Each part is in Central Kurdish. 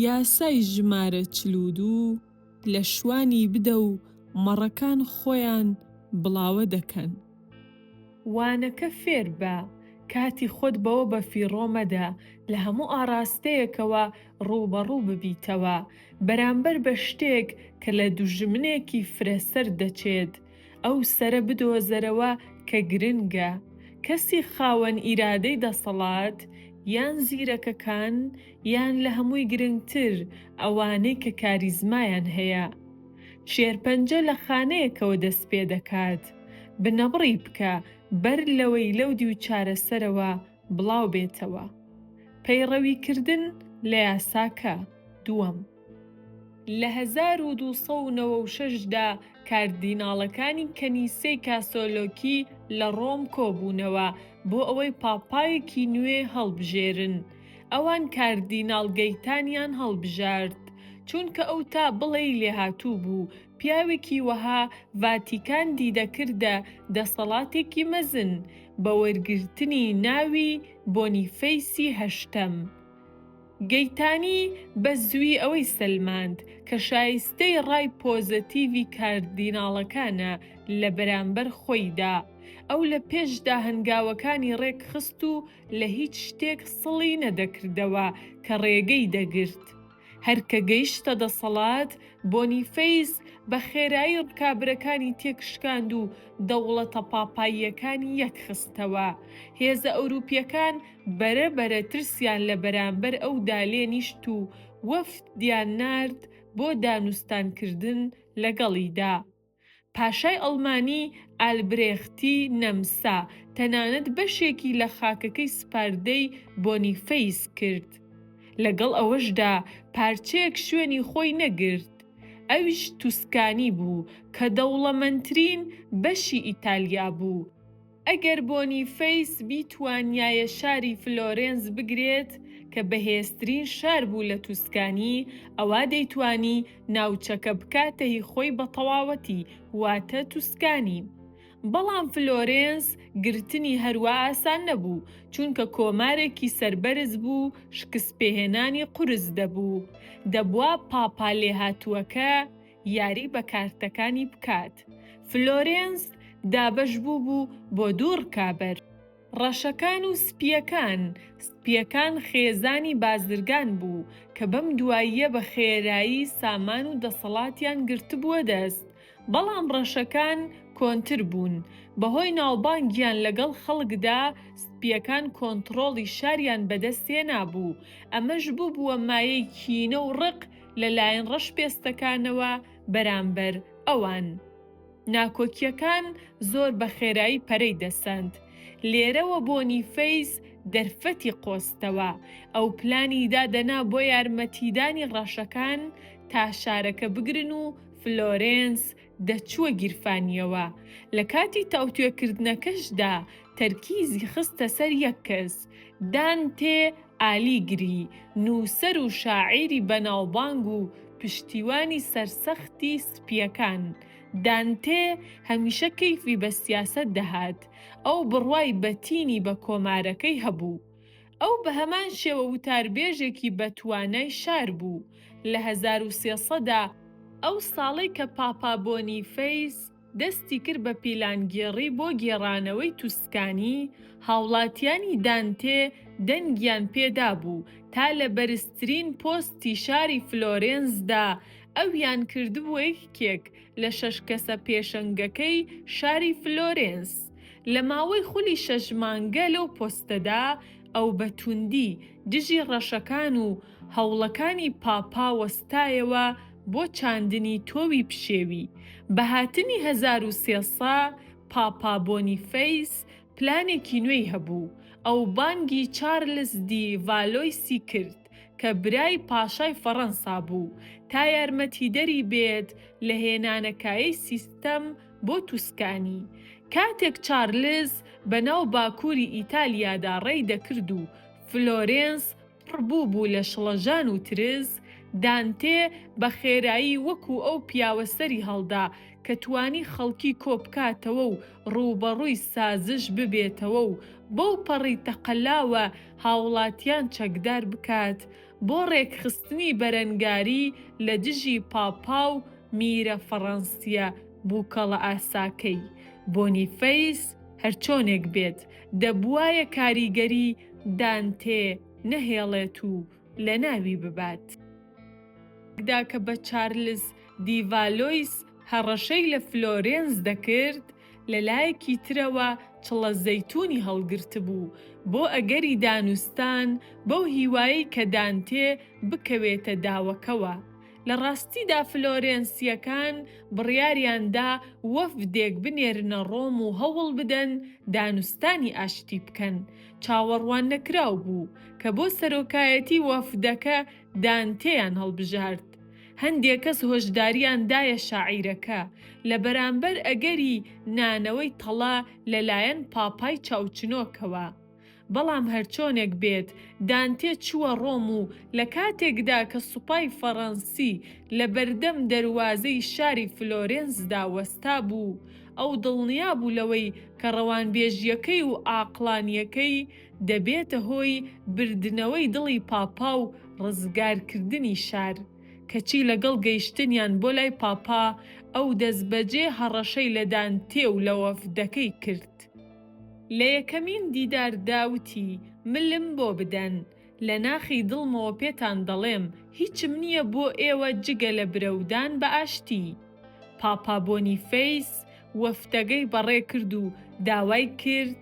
یاسای ژمارە چل و دوو لە شوانی بدە و مەڕەکان خۆیان بڵاوە دەکەن. وانەکە فێربە، کاتی خۆت بەوە بەفیڕۆ مەدە لە هەموو ئاڕاستەیەکەوە ڕووبەڕوو ببیتەوە بەرامبەر بە شتێک کە لە دوژمنێکی فرەسەر دەچێت، ئەو سەرە بدۆزەرەوە کە گرنگە، کەسی خاوەن ئیرادەی دەسەڵات، یان زیرەکەکان، یان لە هەمووی گرنگتر ئەوانەی کە کاریزمایان هەیە. شێرپەنجە لە خانەیەکەوە دەست پێ دەکات. بنەبڕی بکە بەر لەوەی لەو دیو چارەسەرەوە بڵاو بێتەوە. پەیڕەویکردن لە یاساکە، دووەم. لە هەزار و دوو سەد و نەوە و شەش دا کاردیناڵەکانی کەنیسەی کاسۆلۆکی لە ڕۆم کۆبوونەوە بۆ ئەوەی پاپایەکی نوێ هەڵبژێرن. ئەوان کاردیناڵ گەیتانیان هەڵبژارد، چونکە ئەو تا بڵێی لێهاتوو بوو، پیاوێکی وەها ڤاتیکان دیدەکردە دەسەڵاتێکی مەزن بە وەرگرتنی ناوی بۆنیفەیسی هەشتەم. گەیتانی بە زووی ئەوەی سەلماند کە شایستەی ڕای پۆزەتیڤی کاردیناڵەکانە لە بەرامبەر خۆیدا، ئەو لە پێشدا هەنگاوەکانی ڕێکخست و لە هیچ شتێک سڵی نەدەکردەوە کە ڕێگەی دەگرت هەر کە گەیشتە دەسەڵات، بۆنیفەیس بە خێرایی ڕکابرەکانی تێکشکاند و دەوڵەتە پاپاییەکانی یەکخستەوە. هێزە ئەوروپییەکان بەرە بەرە ترسیان لە بەرامبەر ئەو دا لێ نیشت و وەفد یان نارد بۆ دانوستان کردن لەگەڵی دا. پاشای ئەڵمانی ئالبرێختی نەمسا تەنانەت بەشێکی لە خاکەکەی سپاردەی بۆنیفەیس کرد. لەگەڵ ئەوەش دا پارچەیەک شوێنی خۆی نەگرت، ئەویش توسکانی بوو کە دەوڵەمەنترین بەشی ئیتالیا بوو. ئەگەر بۆنیفەیس بیتوانیایە شاری فلۆرێنس بگرێت کە بەهێزترین شار بوو لە توسکانی، ئەوا دەیتوانی ناوچەکە بکاتە هی خۆی بە تەواوەتی، واتە توسکانی. بەڵام فلۆرێنس گرتنی هەروا ئاسان نەبوو، چونکە کۆمارێکی سەربەرز بوو، شکستپێهێنانی قورس دەبوو. دەبوا پاپا لێهاتووەکە یاری بە کارتەکانی بکات. فلۆرێنس دابەش بووبوو بۆ دوو ڕکابەر. ڕەشەکان و سپییەکان، سپییەکان خێزانی بازرگان بوو کە بەم دواییە بە خێرایی سامان و دەسەڵاتیان گرتبووە دەست، بەڵام ڕەشەکان کۆنتر بوون. بەهۆی ناوبانگیان لەگەڵ خەڵکدا، سپییەکان کۆنتڕۆڵی شاریان بەدەست هێنابوو، ئەمەش بووبووە مایەی کینە و ڕق لە لایەن ڕەش پێستەکانەوە بەرامبەر ئەوان. ناکۆکیەکان زۆر بە خێرایی پەرەی دەسەند. لێرەوە بۆنیفەیس دەرفەتی قۆستەوە. ئەو پلانی دادەنا بۆ یارمەتیدانی ڕەشەکان تا شارەکە بگرن و فلۆرێنس دەچووە گیرفانیەوە. لە کاتی تاوتوێکردنەکەشدا تەرکیزی خستە سەر یەک کەس. دانتێ ئالیگری، نووسەر و شاعیری بەناوبانگ و پشتیوانی سەرسەختی سپییەکان. دانتێ هەمیشە کەیفی بە سیاسەت دەهات، ئەو بڕوای بەتینی بە کۆمارەکەی هەبوو. ئەو بە هەمان شێوە وتاربێژێکی بەتوانای شار بوو. لە هەزار و سێ سەدا، ئەو ساڵەی کە پاپا بۆنیفەیس، دەستی کرد بە پیلانگێڕی بۆ گێڕانەوەی توسکانی، هاوڵاتیانی دانتێ دەنگیان پێدابوو تا لە بەرزترین پۆستی شاری فلۆرێنسدا ئەویان کردبووە یەکێک لە شەش کەسە پێشەنگەکەی شاری فلۆرێنس. لە ماوەی خولی شەش مانگە لەو پۆستەدا، ئەو بە توندی دژی ڕەشەکان و هەوڵەکانی پاپا وەستایەوە بۆ چاندنی تۆوی پشێوی. بە هاتنی هەزار و سێ سە، پاپا بۆنیفەیس پلانێکی نوێی هەبوو. ئەو بانگی چارلس دی ڤالۆیسی کرد، کە برای پاشای فەڕەنسا بوو، تا یارمەتیدەری بێت لە هێنانەکایەی سیستەم بۆ توسکانی. کاتێک چارلس بەناو باکووری ئیتالیادا ڕێی دەکرد و فلۆرێنس، پڕ بوو بوو لە شڵەژان و ترس، دانتێ بە خێرایی وەکوو ئەو پیاوە سەری هەڵدا کە توانی خەڵکی کۆ بکاتەوە و ڕووبەڕووی سازش ببێتەوە و بەو پەڕی تەقەلاوە هاوڵاتیان چەکدار بکات بۆ ڕێکخستنی بەرەنگاری لە دژی پاپا و میرە فەڕەنسییە بووکەڵەئاساکەی، بۆنیفەیس، هەرچۆنێک بێت، دەبوایە کاریگەری دانتێ نەهێڵێت و لەناوی ببات. دا کە بە چارلز دی ڤالۆیس هەڕەشەی لە فلۆرێنس دەکرد، لە لایەکی ترەوە چڵە زەیتونی هەڵگرتبوو، بۆ ئەگەری دانوستان، بەو هیوایەی کە دانتێ بکەوێتە داوەکەوە. لە ڕاستیدا فلۆرێنسییەکان بڕیاریان دا وەفدێک بنێرنە ڕۆم و هەوڵ بدەن دانوستانی ئاشتی بکەن، چاوەڕواننەکراو بوو کە بۆ سەرۆکایەتی وەفدەکە دانتێیان هەڵبژارد. هەندێک کەس هۆشدارییان دایە شاعیرەکە لە بەرامبەر ئەگەری نانەوەی تەڵە لەلایەن پاپای چاوچنۆکەوە. بەڵام هەرچۆنێک بێت دانتێ چووە ڕۆم و لە کاتێکدا کە سوپای فەڕەنسی لە بەردەم دەروازەی شاری فلۆرێنسدا وەستا بوو، ئەو دڵنیا بوو لەوەی کە ڕەوانبێژییەکەی و عاقڵانییەکەی دەبێتە هۆی بردنەوەی دڵی پاپا و ڕزگارکردنی شار، کەچی لەگەڵ گەیشتنیان بۆ لای پاپا ئەو دەستبەجێ هەڕەشەی لە دانتێ و لە وەفدەکەی کرد. لە یەکەمین دیدار دا وتی، ملم بۆ بدەن. لە ناخی دڵمەوە پێتان دەڵێم، هیچم نییە بۆ ئێوە جگە لە برەودان بە ئاشتی. پاپا بۆنیفەیس وەفدەگەی بەڕێ کرد و داوای کرد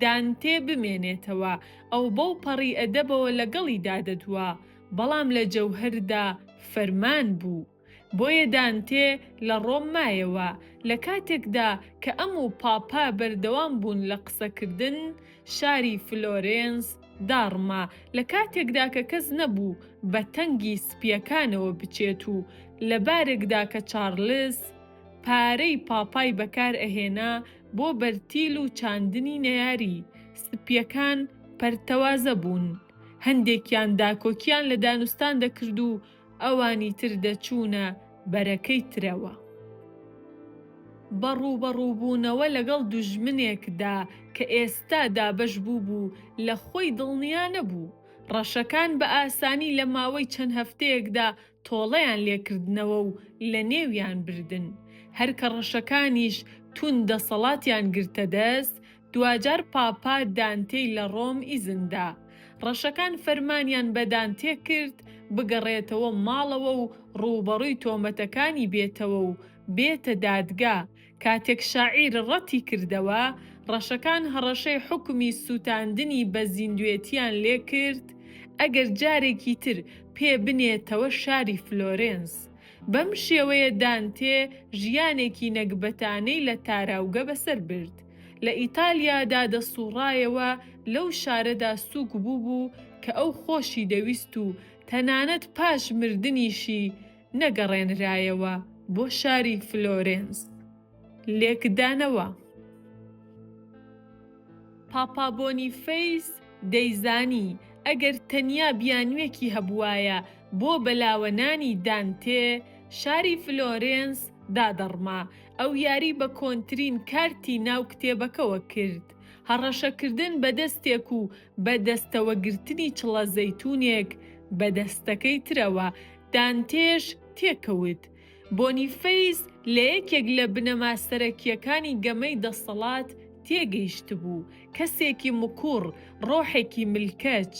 دانتێ بمێنێتەوە، ئەو بەو پەڕی ئەدەبەوە لەگەڵیدا دەدوا، بەڵام لە جەوهەردا فەرمان بوو. بۆیە دانتێ لە ڕۆم مایەوە، لە کاتێکدا کە ئەم و پاپا بەردەوام بوون لە قسەکردن، شاری فلۆرێنس داڕما، لە کاتێکدا کە کەس نەبوو بە تەنگی سپییەکانەوە بچێت و لە بارێکدا کە چارلز پارەی پاپای بەکار ئەهێنا بۆ بەرتیل و چاندنی نەیاری، سپییەکان پەرتەوازە بوون، هەندێکیان داکۆکییان لە دانوستان دەکرد و ئەوانی تر دەچوونە بەرەکەی ترەوە. بە ڕووبەڕووبوونەوە لەگەڵ دوژمنێکدا کە ئێستا دابەش بووبوو لە خۆی دڵنیا نەبوو. ڕەشەکان بە ئاسانی لە ماوەی چەند هەفتەیەکدا تۆڵەیان لێ کردنەوە و لە نێویان بردن. هەر کە ڕەشەکانیش توند دەسەڵاتیان گرتە دەست، دواجار پاپا دانتێی لە ڕۆم ئیزن دا. ڕەشەکان فەرمانیان بە دانتێ کرد بگەڕێتەوە ماڵەوە و ڕووبەڕووی تۆمەتەکانی بێتەوە و بێتە دادگا. کاتێک شاعیر ڕەتی کردەوە، ڕەشەکان هەڕەشەی حوکمی سووتاندنی بە زیندوێتیان لێ کرد ئەگەر جارێکی تر پێ بنێتەوە شاری فلۆرێنس. بەم شێوەیە دانتێ ژیانێکی نەگبەتانەی لە تاراوگە بەسەر برد. لە ئیتالیادا دەسووڕایەوە، لەو شارەدا سووک بووبوو کە ئەو خۆشی دەویست و تەنانەت پاش مردنیشی نەگەڕێنرایەوە بۆ شاری فلۆرێنس. لێکدانەوە. پاپا بۆنیفەیس دەیزانی ئەگەر تەنیا بیانووێکی هەبووایە بۆ بەلاوەنانی دانتێ، شاری فلۆرێنس دادەڕما، ئەو یاری بە کۆنترین کارتی ناو کتێبەکەوە کرد. هەڕەشەکردن بە دەستێک و بە دەستەوەگرتنی چڵە زەیتونێک بە دەستەکەی ترەوە، دانتێش تێکەوت. بۆنیفەیس لە یەکێک لە بنەما سەرەکییەکانی گەمەی دەسەڵات تێگەیشتبوو، کەسێکی مکوڕ، ڕۆحێکی ملکەچ.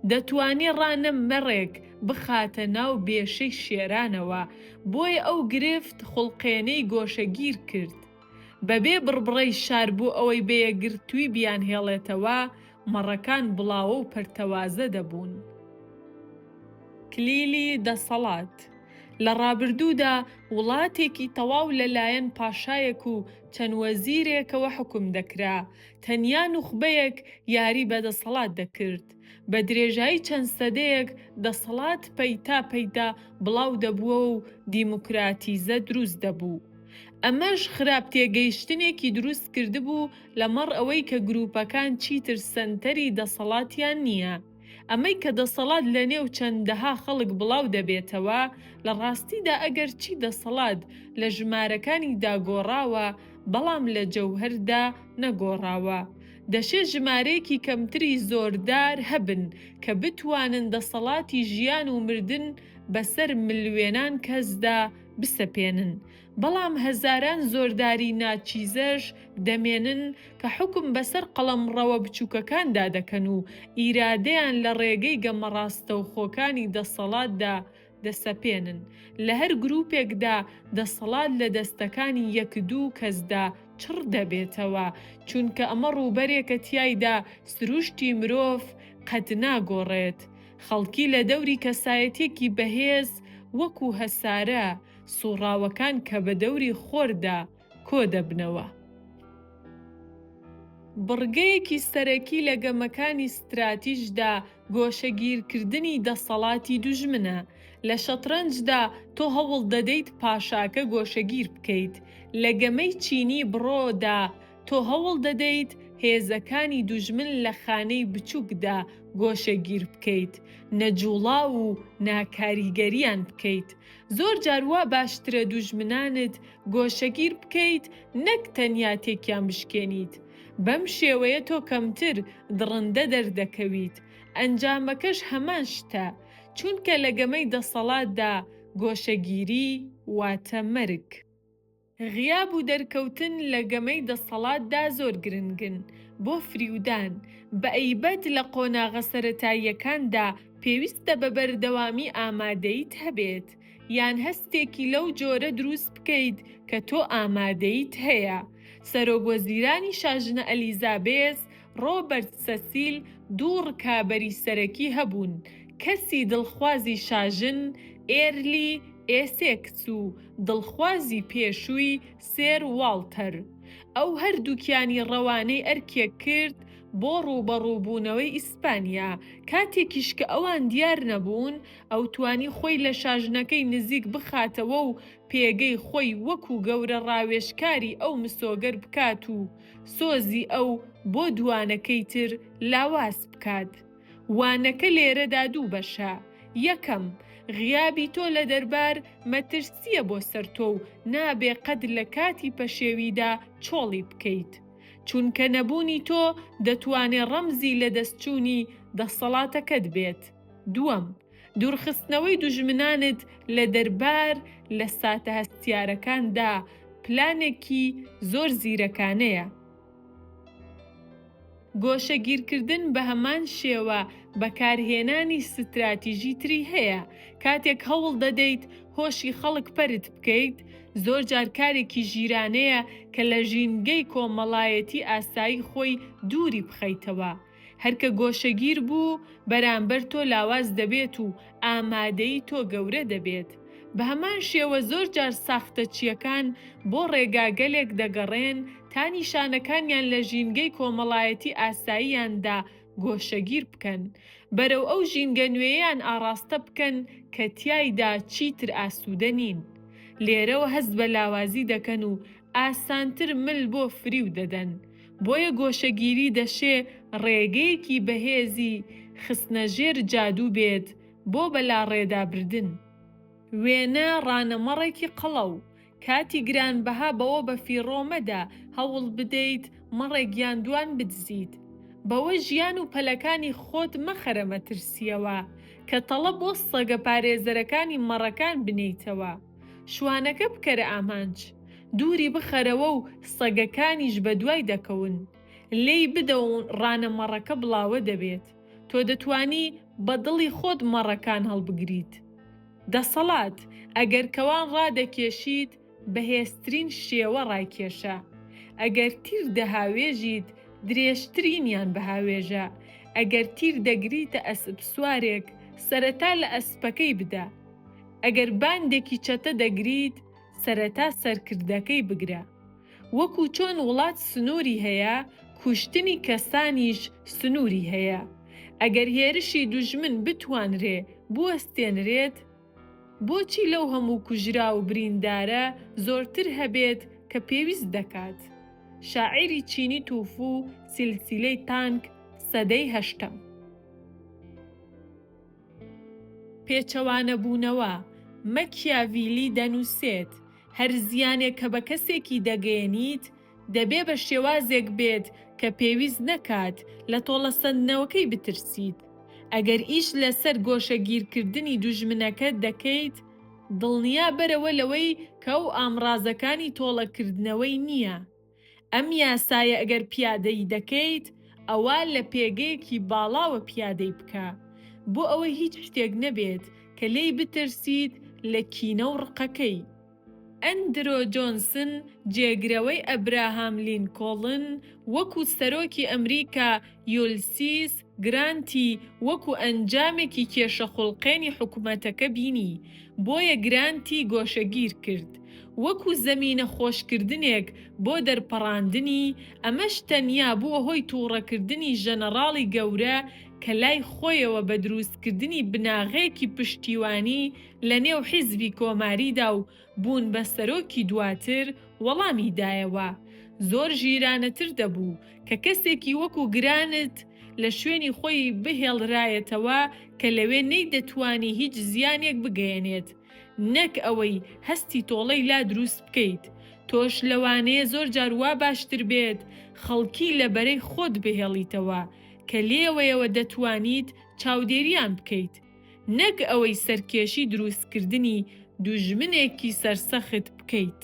دەتوانی ڕانە مەڕێک بخاتە ناو بێشەی شێرانەوە، بۆیە ئەو گرفت خوڵقێنەی گۆشەگیر کرد. بەبێ بڕبڕەی شار بۆ ئەوەی بە یەکگرتووی بیانهێڵێتەوە، مەڕەکان بڵاوە و پەرتەوازە دەبوون. کلیلی دەسەڵات، لە ڕابردوودا وڵاتێکی تەواو لەلایەن پاشایەک و چەند وەزیرێکەوە حوکم دەکرا، تەنیا نوخبەیەک یاری بە دەسەڵات دەکرد. بە درێژایی چەند سەدەیەک دەسەڵات پەیتا پەیتا بڵاو دەبووەوە و دیموکراتیزە دروست دەبوو. ئەمەش خراپ تێگەیشتنێکی دروست کردبوو لەمەڕ ئەوەی کە گروپەکان چیتر سەنتەری دەسەڵاتیان نییە. ئەمەی کە دەسەڵات لە نێو چەندەها خەڵک بڵاو دەبێتەوە، لە ڕاستیدا ئەگەر چی دەسەڵات لە ژمارەکانی دا گۆڕاوە، بەڵام لە جەوهەر دا نەگۆڕاوە. دەشێ ژمارەیەکی کەمتری زۆردار هەبن کە بتوانن دەسەڵاتی ژیان و مردن بە سەر ملوێنان کەس دا بسەپێنن، بەڵام هەزاران زۆرداری ناچیزەش دەمێنن کە حوکم بەسەر قەڵەمڕەوە بچووکەکاندا دەکەن و ئیرادەیان لە ڕێگەی گەمە ڕاستەوخۆکانی دەسەڵاتدا دەسەپێنن. لە هەر گرووپێکدا دەسەڵات لە دەستەکانی یەک دوو کەسدا چڕ دەبێتەوە، چونکە ئەمە ڕووبەرێکە تیایدا سرووشتی مرۆڤ قەت ناگۆڕێت. خەڵکی لە دەوری کەسایەتیەکی بەهێز وەکو هەسارە، سووڕاوەکان کە بە دەوری خۆردا کۆ دەبنەوە. بڕگەیەکی سەرەکی لە گەمەکانی ستراتیژدا گۆشەگیرکردنی دەسەڵاتی دوژمنە. لە شەترەنجدا تۆ هەوڵ دەدەیت پاشاکە گۆشەگیر بکەیت. لە گەمەی چینی بڕۆ دا تۆ هەوڵ دەدەیت هێزەکانی دوژمن لە خانەی بچووکدا گۆشەگیر بکەیت، نەجووڵاو و ناکاریگەریان بکەیت. زۆر جار وا باشترە دوژمنانت گۆشەگیر بکەیت نەک تەنیا تێکیان بشکێنیت، بەم شێوەیە تۆ کەمتر دڕندە دەردەکەویت، ئەنجامەکەش هەمان شتە، چونکە لە گەمەی دەسەڵاتدا گۆشەگیری واتە مەرگ. غیاب و دەرکەوتن لە گەمەی دەسەڵاتدا زۆر گرنگن بۆ فریودان، بەئەیبەت لە قۆناغە سەرەتاییەکاندا پێویستە بە بەردەوامی ئامادەییت هەبێت، یان هەستێکی لەو جۆرە دروست بکەیت کە تۆ ئامادەییت هەیە. سەرۆک وەزیرانی شاژنە ئەلیزابێس ڕۆبەرت سەسیل دوو ڕکابەری سەرەکی هەبوون، کەسی دڵخوازی شاژن ئێرلی ئێسێکس و دڵخوازی پێشووی سێر واڵتەر. ئەو هەردووکیانی ڕەوانەی ئەرکێک کرد بۆ ڕووبەڕووبوونەوەی ئیسپانیا، کاتێکیش کە ئەوان دیار نەبوون، ئەو توانی خۆی لە شاژنەکەی نزیک بخاتەوە و پێگەی خۆی وەکو گەورە ڕاوێژکاری ئەو مسۆگەر بکات و سۆزی ئەو بۆ دووانەکەی تر لاواز بکات. وانەکە لێرەدا دوو بەشە، یەکەم، غیابی تۆ لە دەربار مەترسییە بۆ سەر تۆ و نابێ قەت لە کاتی پەشێویدا چۆڵی بکەیت. چونکە نەبوونی تۆ دەتوانێ ڕەمزی لەدەستچوونی دەسەڵاتەکەت بێت. دووەم. دوورخستنەوەی دوژمنانت لە دەربار لە ساتە هەستیارەکاندا پلانێکی زۆر زیرەکانەیە. گۆشەگیرکردن بە هەمان شێوە بەکارهێنانی ستراتیژی تری هەیە، کاتێک هەوڵ دەدەیت هۆشی خەڵک پەرت بکەیت، زۆرجار کارێکی ژیرانەیە کە لە ژینگەی کۆمەڵایەتی ئاسایی خۆی دووری بخەیتەوە. هەر کە گۆشەگیر بوو بەرامبەر تۆ لاواز دەبێت و ئامادەی تۆ گەورە دەبێت. بە هەمان شێوە زۆر جار ساختەچییەکان بۆ ڕێگاگەلێک دەگەڕێن تا نیشانەکانیان لە ژینگەی کۆمەڵایەتی ئاساییاندا گۆشەگیر بکەن، بەرەو ئەو ژینگە نوێیەیان ئاڕاستە بکەن کە تیایدا چیتر ئاسوودە نین. لێرەوە هەست بە لاوازی دەکەن و ئاسانتر مل بۆ فریو دەدەن، بۆیە گۆشەگیری دەشێ ڕێگەیەکی بەهێزی خستنە ژێر جادوو بێت بۆ بەلاڕێدابردن. وێنە ڕانەمەڕێکی قەڵەو، کاتی گرانبەها بەوە بەفیڕۆ مەدە هەوڵ بدەیت مەڕێک یان دوان بدزیت، بەوە ژیان و پەلەکانی خۆت مەخەرە مەترسییەوە، کە تەڵە بۆ سەگە پارێزەرەکانی مەڕەکان بنێیتەوە. شوانەکە بکەرە ئامانج. دووری بخەرەوە و سەگەکانیش بەدوای دەکەون. لێی بدە و ڕانە مەڕەکە بڵاوە دەبێت. تۆ دەتوانی بە دڵی خۆت مەڕەکان هەڵبگریت. دەسەڵات، ئەگەر کەوان ڕادەکێشیت، بەهێزترین شێوە ڕایکێشە. ئەگەر تیر دەهاوێژیت، درێژترینیان بهاوێژە. ئەگەر تیر دەگریتە ئەسپسوارێک، سەرەتا لە ئەسپەکەی بدە. ئەگەر باندێکی چەتە دەگریت سەرەتا سەرکردەکەی بگرە، وەکو چۆن وڵات سنوری هەیە کوشتنی کەسانیش سنوری هەیە، ئەگەر هێرشی دوژمن بتوانرێ بوەستێنرێت بۆچی لەو هەموو کوژراو و بریندارە زۆرتر هەبێت کە پێویست دەکات. شاعیری چینی توفو سیلسیلەی تانک سەدەی هەشتەم. پێچەوانەبوونەوە، مەکیاڤیلی دەنووسێت، هەر زیانێک کە بە کەسێکی دەگەیەنیت، دەبێ بە شێوازێک بێت کە پێویست نەکات لە تۆڵەسەندنەوەکەی بترسیت. ئەگەر ئیش لەسەر گۆشەگیرکردنی دوژمنەکەت دەکەیت، دڵنیابەرەوە لەوەی کە ئەو ئامڕازەکانی تۆڵەکردنەوەی نییە. ئەم یاسایە ئەگەر پیادەی دەکەیت ئەوا لە پێگەیەکی باڵاوە پیادەی بکە بۆ ئەوەی هیچ شتێک نەبێت کە لێی بترسیت لە کینە و ڕقەکەی. ئەندرۆ جۆنسن جێگرەوەی ئەبراهام لینکۆڵن وەکو سەرۆکی ئەمریکا یولسیس گرانتی وەکو ئەنجامێکی کێشە خوڵقێنی حکومەتەکە بینی، بۆیە گرانتی گۆشەگیر کرد، وەکو زەمینە خۆشکردنێک بۆ دەرپەڕاندنی، ئەمەش تەنیا بووە هۆی تووڕەکردنی ژەنەڕاڵی گەورە کە لای خۆیەوە بە درووستکردنی بناغەیەکی پشتیوانی لەنێو حیزبی کۆماریدا و بوون بە سەرۆکی دواتر وەڵامی دایەوە، زۆر ژیرانەتر دەبوو کە کەسێکی وەکو گرانت لە شوێنی خۆی بهێڵرایەتەوە کە لەوێ نەیدەتوانی هیچ زیانێک بگەیەنێت نەک ئەوەی هەستی تۆڵەی لا دروست بکەیت تۆش لەوانەیە زۆر جار وا باشتر بێت خەڵکی لە بەرەی خۆت بهێڵیتەوە کە لێوەیەوە دەتوانیت چاودێریان بکەیت. نەک ئەوەی سەرکێشی درووستکردنی دوژمنێکی سەرسەخت بکەیت.